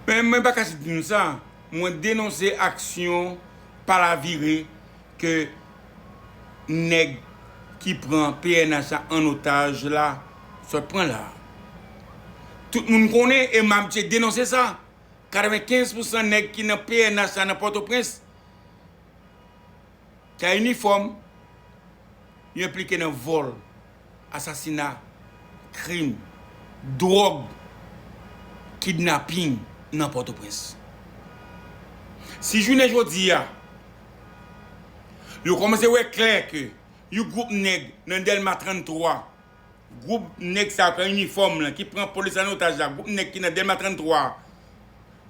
Men mwen pa kache di nou sa, mwen denonse aksyon palavire ke nèg ki pran pnh la an otaj la sot pran la. Tout moun konnen e m abitye denonse sa, 95 pousan nèg ki nan pnh la nan Pòtoprens, Ka inifòm yo enplike nan vòl, asasina, krim, dwòg, kidnaping nan Pòtoprens. Si jounen jodi a, yo kòmanse wè klè ke yon gwoup nèg nan Dèlma 33, gwoup nèg sa yo ki an inifòm lan, ki pran polis an otaj la, gwoup nèg ki nan Dèlma 33 a,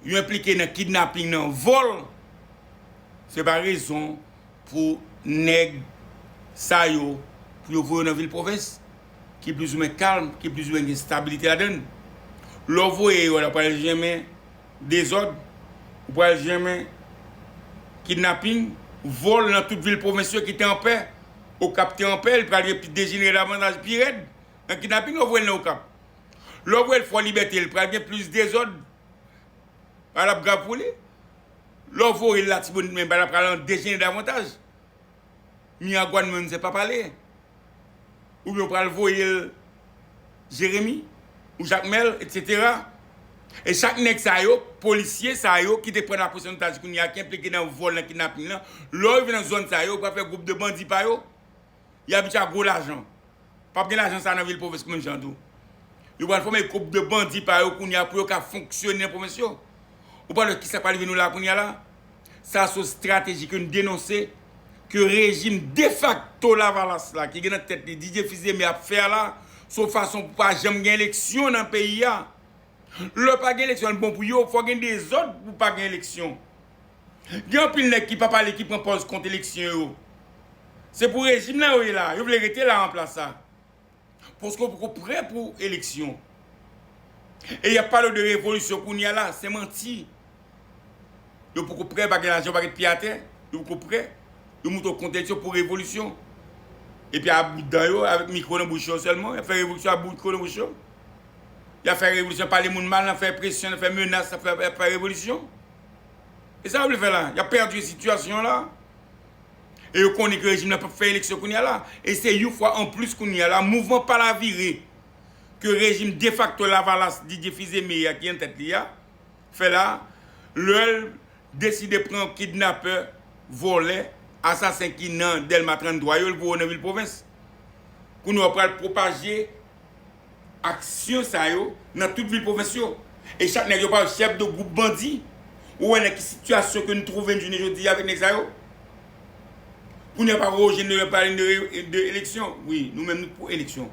yo enplike nan kidnaping, nan vòl, Se pa rezon pou nèg sa yo pou yo voye yo nan vil pwovens ki plizoumwen kalm, ki plizoumwen gen stabilite ladan l. Lè w voye yo la, ou pral jèmen dezòd, ou pral jèmen kidnaping, vòl nan tout vil pwovens yo ki te anpè. Okap te anpè, li pral vin dejenere davantaj, pi rèd nan kidnaping lè w voye l nan Okap. Lè w voye l Fò Libète, li pral gen plis dezòd Bagay la ap grav pou li. Lè w voye l Latibonit men bagay la pral dejenere davantaj. Miragwàn menm se pa pale. Oubyen w pral voye l Jeremi ou Jakmèl etsetera. E chak nèg sa yo, polisye sa yo ki te pran lapolis an otaj kounye a, ki enplike nan vòl, nan kidnaping lan, lè yo rive nan zòn sa yo, yo pral fè gwoup de bandi pa yo. Y ap itya gwo lajan. Pap gen lajan sa nan vil pwovens menm jan tou. Yo pral fòme gwoup de bandi pa yo kounye a pou yo ka fonksyone nan pwovens yo. Ou pa wè ki sa k pral rive nou la kounye a la? Sa son estrateji ke n denonse, ke rejim defakto lavalas la ki gen nan tèt li Didier Fils d'Aimé ap fè a la, son fason pou pa janm gen eleksyon nan peyi a. Lè pa gen eleksyon l bon pou yo, fò gen dezòd pou pa gen eleksyon. Gen anpil nèg ki pa pale ki pran pòz kont eleksyon yo. Se pou rejim la yo ye la. Yo vle rete la an plas la. Paske yo poko prè pou eleksyon. E y ap pale w de revolisyon kounye a la. Se manti. Yo poko prè, pa gen lajan, yo pa gen pye atè. Yo poko prè. Yo monte w kont eleksyon pou revolisyon. Epi a bout dan yo, avèk mikwo nan bouch yo sèlman, y ap fè revolisyon a bout mikwo nan bouch yo. Y ap fè revolisyon, pale moun mal, nan fè presyon, nan fè menas, nan fè revolisyon. E sa yo vle fè la? Yap pèdi sitiyasyon an la. E yo konnen ke rejim la pap fè eleksyon kounye a la. E se yon fwa anplis kounye a la mouvman palavire ke rejim defakto lavalas Didier Fils-Aimé a ki an tèt li a fè la, lè l deside pran kidnapè, vòlè, asasen ki nan Dèlma 33 yo, l voye yo nan vil pwovens. Kounye a yo pral pwopaje. aksyon sa yo nan tout vil pwovens yo e chak nèg yo pral chèf de gwoup bandi ou wè nan ki sitiyasyon ke nou twouve n jounen jodi avèk nèg sa yo kounye a pa Roger Noël ap pale de eleksyon wi nou menm nou pou eleksyon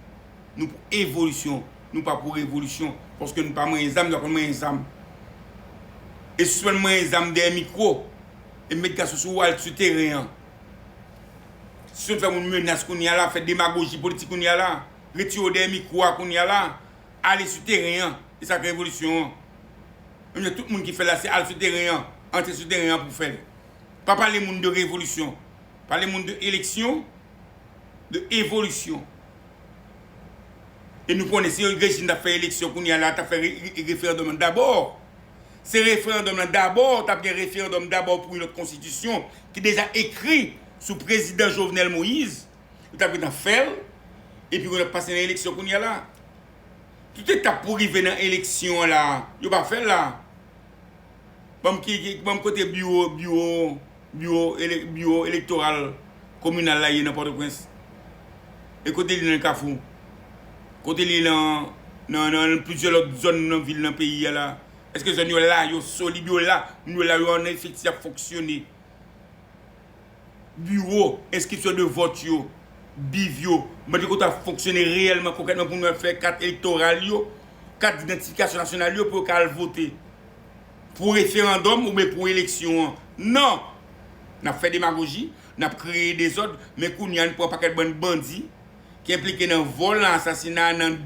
nou pou evolisyon nou pa pou revolisyon paske nou pa manyen zam nou pa konn manyen zam e sispann manyen zam dèyè mikwo e met gason sou al sou teren an sispann fè moun menas kounye a la fè demagoji politik kounye a la. Retire w dèyè mikwo a kounye a la, ale sou teren an, e sa k revolisyon an. Menm jan tout moun ki fè l la se al sou teren an, antre sou teren an pou fè l. Pa pale moun de revolisyon, pale moun de eleksyon, de evolisyon. E nou konnen si rejim t ap fè eleksyon kounye a la, l ta fè referandòm lan dabò. Se referandòm lan dabò, t ap gen referandòm dabò pou yon lòt konstitisyon ki deja ekri sou prezidan Jovenel Moïse. Yo tap gentan fèl epi yo tap pase nan eleksyon kounya la. Tout etap pou rive nan eleksyon an la yo pa fèl la. Banm ki banm kote biwo biwo biwo biwo elektoral kominal la ye nan pòtoprens. E kote li nan kafou. Kote li nan nan nan plizyè lòt zòn nan vil nan peyi a la. Eske zòn yo la yo solid yo la moun yo la yo an efektif yap fonksyone. Biwo enskripsyon de vòt yo, BIV, yo mande kota fonksyone reyèlman, konkrètman pou moun ap fè kat elektoral yo, kat didantifikasyon nasyonal yo pou yo ka al vote pou referandòm oubyen pou eleksyon an. Non! N ap fè demagoji, n ap kreye dezòd, men kounye a n pran pakèt bann bandi. ki enplike nan vòl, nan asasina, nan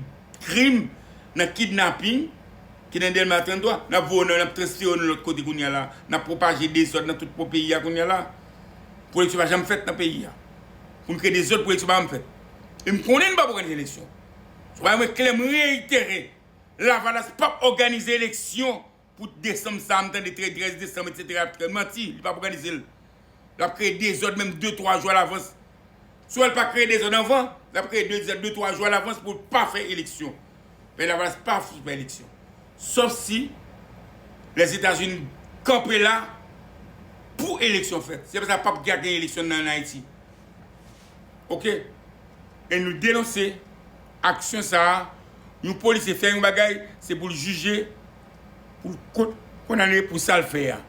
krim, nan kidnaping, ki nan Dèlma 33, n ap voye yo nan, n ap transfere yo nan lòt kote kounye a la, n ap pwopaje dezòd nan tout po peyi a kounye a la. Pou eleksyon pa janm fèt nan peyi a. Pou n kreye dezòd pou eleksyon pa janm fèt. E m konnen nou pap òganize eleksyon. Sou bagay mwen klè, m reyitere, Lavalas pap òganize eleksyon. Pou desanm sa m tande 13 desanm etc manti li pap òganize l lap kreye dezòd menm 2 3 jou alavans si w wè l pa kreye dezòd anvan lap kreye dezòd 2 3 jou alavans pou l pa fè eleksyon peyi lavalas pa fouti fè eleksyon sòf si lèzetazini kanpe la pou eleksyon fèt se konsa pap gen eleksyon nan ayiti ok e nou denonse. aksyon sa a, yon polisye fè yon bagay, se pou l jije, pou l kondane pou sa l fè a.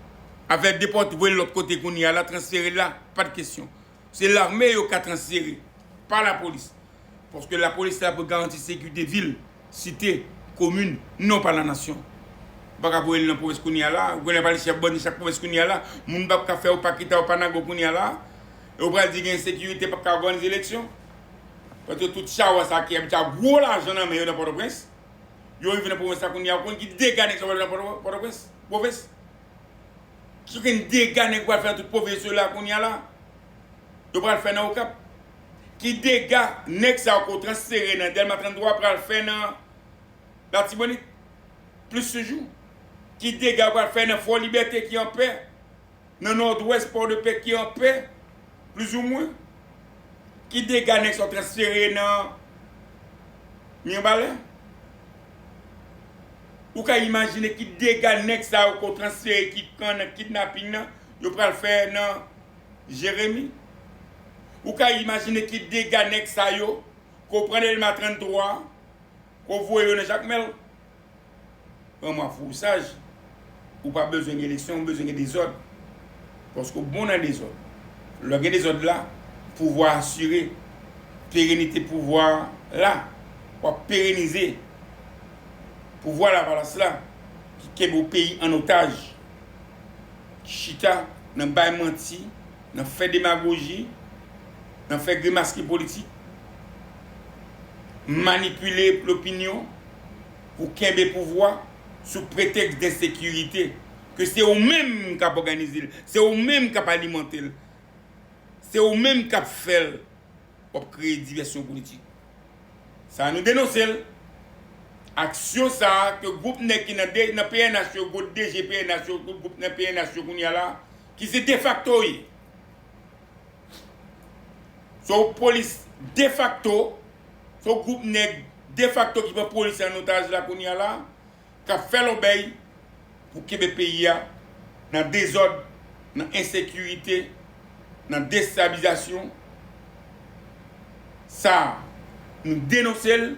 Afè depòte, voye l lòt kote kounye a la, transfere l la, pa t kesyon. Se lame yo ka transfere, pa lapolis. Paske lapolis la pou garanti sekirite vil, site, komin, non pa la nasyon. Ou pa ka voye l nan pwovens kounye a la, ou konnen pa li chèf bandi chak pwovens kounye a la, moun pa ka fè ou pa kita ou pa nago kounye a la, e ou pral di gen ensekirite pa ka òganize eleksyon. Paske tout chawa sa ki abitye a gwo lajan nan men yo nan Pòtoprens, yo rive nan pwovens la kounye a, ou konn ki dega nèg sa pral fè nan Pòtoprens? Pwovens? Ki gen dega nèg pral fè nan tout pwovens yo la kounye a la? Yo pral fè nan Okap? Ki dega nèg sa yo ke w transfere nan Dèlma 33 pral fè nan Latibonit? Plis toujou, ki dega yo pral fè nan Fò Libète ki an pè? Nan nòdwès Pòdepè ki an pè, plizoumwen? Ki dega nèg sa yo transfere nan Mirebalais? Ou ka imajine ki dega nèg sa yo ke w transfere ki pran nan kidnaping nan yo pral fè nan Jeremi? Ou ka imajine ki dega nèg sa yo ke w pran Dèlma 33, ke w voye yo nan Jakmèl? Pran mwen pou ou saj. Ou pa bezwen gen eleksyon, ou bezwen gen dezòd. Paske ou bon nan dezòd. Lè gen dezòd la, pouvwa a asire. Perenite pouvwa a la. W ap perenize pouvwa Lavalas la ki kenbe yon peyi an otaj. Ki chita nan bay manti. nan fè demagoji, nan fè grimaski politik, manipile lopinyon pou kenbe pouvwa sou pretèks densekirite ke se ou menm k ap òganize l, se ou menm k ap alimante l, se ou menm k ap fè l, w ap kreye divèsyon politik. Sa nou denonse l. Aksyon sa a ke gwoup nèg ki nan pnh yo, gwo DG pnh yo, gwoup nan pnh yo kounye a la, ki se defakto wi. Se yon polis defakto, se yon gwoup nèg defakto ki pran polis an otaj la kounye a la, k ap fè lòbèy pou kenbe peyi a nan dezòd, nan ensekirite, nan destabilizasyon. Sa a, nou denonse l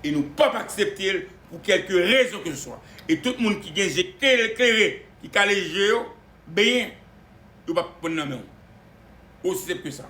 e nou p ap aksepte l pou kèlke rezon keseswa. E tout moun ki gen je klere, ki kale je yo, benyen, yo pap pran nan menw. Osi senp ke sa.